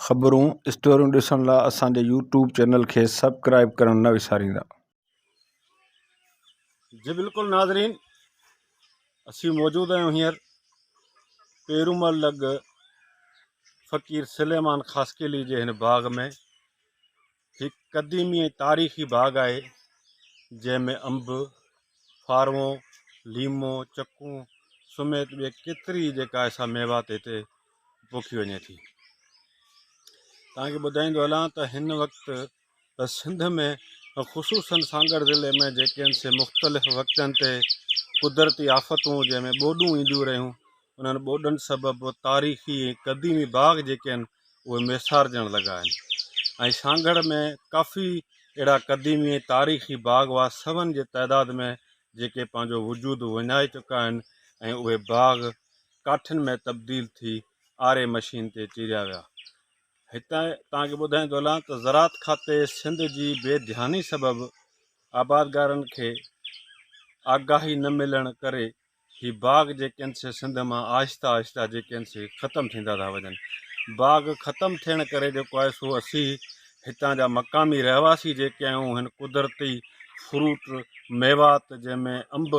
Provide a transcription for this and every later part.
خبرون اسٽوريون ڏسڻ لا اسان جي يوٽيوب چينل کي سبڪرائيب ڪرڻ نه وساريندا. جي بلڪل ناظرين اسي موجود آهيون هينئر پيرومل لڳ فقير سليمان خاصخيلي جي هن باغ ۾ هڪ قديمي ۽ تاريخي باغ آهي جنهن ۾ انب، ڦاروو، ليمو، چڪون سميت ٻي ڪيتري جيڪا ايسا ميوا تي هتي پوکي وڃي ٿي. تان کي ٻڌائيندو هلان ته هن وقت ته سنڌ ۾ خصوصن سانگهڙ ضلعي ۾ جيڪي هن سي مختلف وقتن تي قدرتي آفتون جنهن ۾ ٻوڏون اينديون رهيون انهن ٻوڏن سبب تاريخي ۽ قديمي باغ جيڪي آهن اهي ميسارجڻ لڳا آهن ۽ سانگهڙ ۾ ڪافي اهڙا قديمي ۽ تاريخي باغ هئا سون جي تعداد ۾ جيڪي پنهنجو وجود وڃائي چڪا آهن ۽ اهي باغ ڪاٺين ۾ تبديل ٿي آري مشين تي چيريا ويا. هتي توهان کي ٻڌائيندو هلان ته زراعت کاتي سنڌ جي بي ڌياني سبب آبادگارن کي آگاهي نه ملڻ ڪري هي باغ جيڪي آهن سي سنڌ مان آهستي آهستي جيڪي آهن سي ختم ٿيندا ٿا وڃن باغ ختم ٿيڻ ڪري جيڪو آهي سو اسي هتان جا مقامي رهواسي جيڪي آهيون هن قدرتي فروٽ ميوات جنهن ۾ انب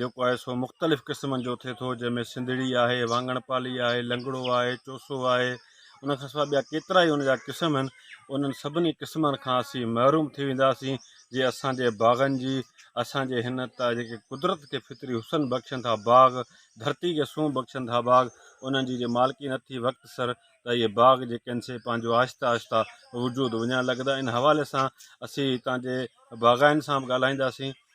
جيڪو آهي سو مختلف قسمن جو ٿئي ٿو جنهن ۾ سنڌڙي آهي واڱڻ پالي آهي لنگڙو آهي چوسو آهي ان کان سواء ٻيا ڪيترا ئي ان جا قسم آهن انهن سڀني قسمن کان اسين محروم ٿي وينداسين جي اسان جي باغن جي اسان جي هن ته جيڪي قدرت کي فطري حسن بخشن ٿا باغ ڌرتي کي سونهن بخشن ٿا باغ انهن جي جي مالڪي نه ٿي وقت سر ته اهي باغ جيڪي آهن سي پنهنجو آهستي آهستي وجود وڃائڻ لڳندا ان حوالي سان اسين هتان جي باغائن سان به ڳالهائينداسين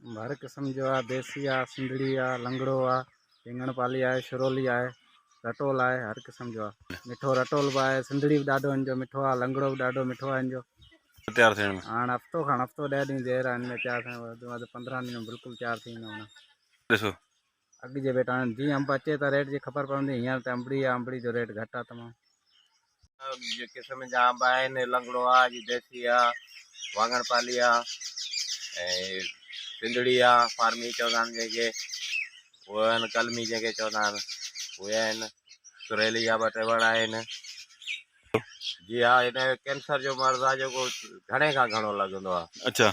هر قسم جو آهي ديسي آهي سنڌڙي آهي لنگڙو آهي رينگڻ پالي آهي شرولي آهي رٽول آهي هر قسم جو آهي مٺو رٽول به آهي سنڌڙي به ڏاڍو هن جو مٺو آهي لنگڙو به ڏاڍو مٺو آهي هن جو تيار ٿيڻ ۾ هاڻ هفتو کان هفتو ڏهه ڏينهن دير آهن ۾ تيار ٿيڻ وڌ ۾ وڌ پندرهن ڏينهن ۾ بلڪل تيار ٿي ويندو هاڻ ڏسو اڳ جي ڀيٽ هاڻي جيئن انب اچي ته ريٽ جي خبر پوندي هينئر ته انبڙي آ انبڙي جو ريٽ گهٽ آ تمام. جي قسم جا انب آهن لنگڙو آ جي ديسي آ واڱڻ پالي آ ۽ سنڌڙي آ فارمي چوندا آهن جنهن کي اهي آهن قلمي جنهن کي چوندا آهن اهي آهن سريلي جا ٻه ٽي وڻ آهن جي آ هن کي ڪينسر جو مرض آ جيڪو گهڻي کان گهڻو لڳندو آ اڇا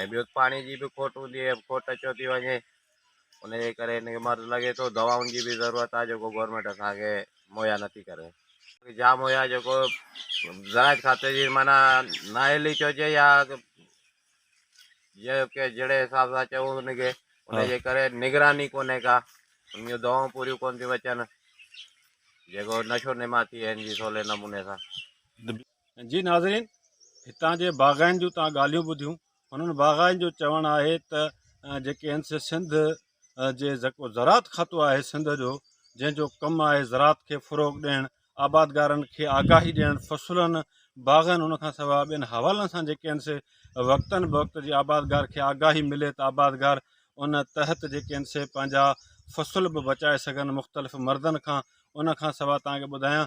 ۽ ٻيو پاڻي جي به کوٽ هوندي آهي کوٽ اچيو ٿي وڃي ان جي ڪري هن کي مرض لڳي ٿو دوائن جي به ضرورت آهي جيڪو گورنمينٽ اسان کي مهيا نٿي ڪري جام هيا جيڪو زراعت کاتي جي معنيٰ نااهلي چئجي يا جيڪو ڪي جهڙي حساب سان چئون ان کي ان جي ڪري نگراني ڪونهي ڪا ان جون دوائون پوريون ڪون ٿيون اچن جيڪو نشو نما ٿئي هن جي سولي نموني سان جي ناظرين هتان جي باغائن جون توهان ڳالهيون ٻڌيون انهن باغائن جو چوڻ آهي ته جيڪي هنس سنڌ جي جيڪو زراعت کاتو آهي سنڌ جو جنهن جو ڪم آهي زراعت کي فروغ ڏيڻ آبادگارن کي آگاهي ڏيڻ فصلن باغن ان کان سواء ٻين حوالن سان جيڪي هنس وقتن بوقت جي آبادگار کي آگاهي ملي ته آبادگار ان تحت جيڪي هنس پنهنجا فصل به بچائي سگهن مختلف مردن کان ان کان سواء تان کي ٻڌايان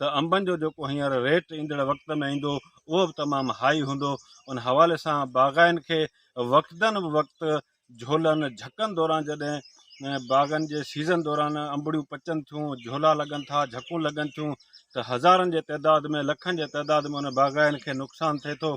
ته انبن جو جيڪو هينئر ريٽ ايندڙ وقت ۾ ايندو اهو به تمام هائي هوندو ان حوالي سان باغائن کي وقتن به وقت جهولن جهڪن دوران جڏهن باغن جي سيزن دوران انبڙيون پچن ٿيون جهولا لڳن ٿا جهڪون لڳن ٿيون ته هزارن جي تعداد ۾ لکن جي تعداد ۾ ان باغائن کي نقصان ٿئي ٿو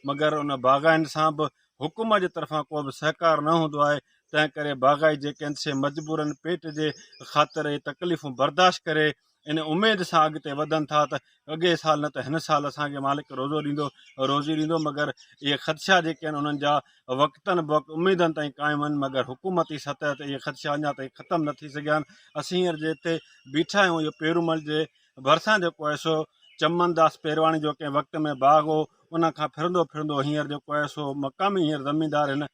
مگر ان باغائن سان به حڪومت جي طرفان ڪو به سهڪار نه هوندو آهي تنهن ڪري باغائي جيڪي آهن سي مجبورن پيٽ جي خاطر اهي تڪليفون برداشت ڪري ان اميد سان اڳتي وڌن ٿا ته اڳئي سال نه ته هن سال اسان کي مالڪ روزو ڏيندو روزي ڏيندو مگر اهي خدشا جيڪي آهن انهن جا وقتن بوقت اميدن تائين قائم آهن مگر حڪومتي سطح تي اهي خدشا اڃا تائين ختم نه ٿي سگهيا آهن اسين هينئر جي هتي بيٺا آهيون اهو پيرومل جي ڀرسان جيڪو آهي سو چمن داس پيرواڻي جو ڪنهن وقت ۾ باغ هو ان کان ڦرندو ڦرندو هينئر جيڪو آهي سو مقامي هينئر زميندار هن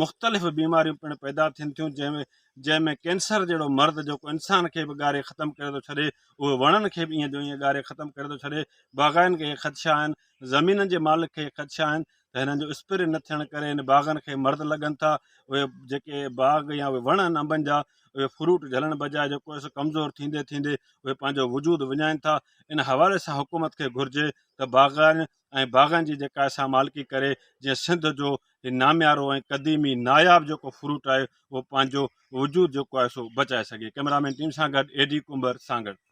مختلف بيماريون پڻ پيدا ٿين ٿيون جنهن ۾ جنهن ۾ ڪينسر جهڙو مرض جيڪو انسان کي به ڳاري ختم ڪري ٿو ڇڏي اهو وڻن کي به ايئن جو ايئن ڳاري ختم ڪري ٿو ڇڏي باغائن کي خدشا آهن زمينن جي مالڪ کي خدشا آهن ته هنن جو اسپري نه ٿيڻ ڪري هن باغن کي مرض لڳن ٿا اهي جيڪي باغ يا اهي وڻ آهن انبن جا اهي فروٽ جھلڻ بجاء جيڪو اهي ڪمزور ٿيندي ٿيندي اهي پنهنجو وجود وڃائين ٿا ان حوالي سان حڪومت کي گھرجي ته باغائن ۽ باغن جي جيڪا اسان مالڪي ڪري جنهن سنڌ جو هي ناميارو ۽ قديمي ناياب جيڪو فروٽ آهي اهو پنهنجو وجود جيڪو آهي سو بچائي سگهي ڪئميرا مين ٽيم سان گڏ اي ڊي ڪنڀر سانگهڙ.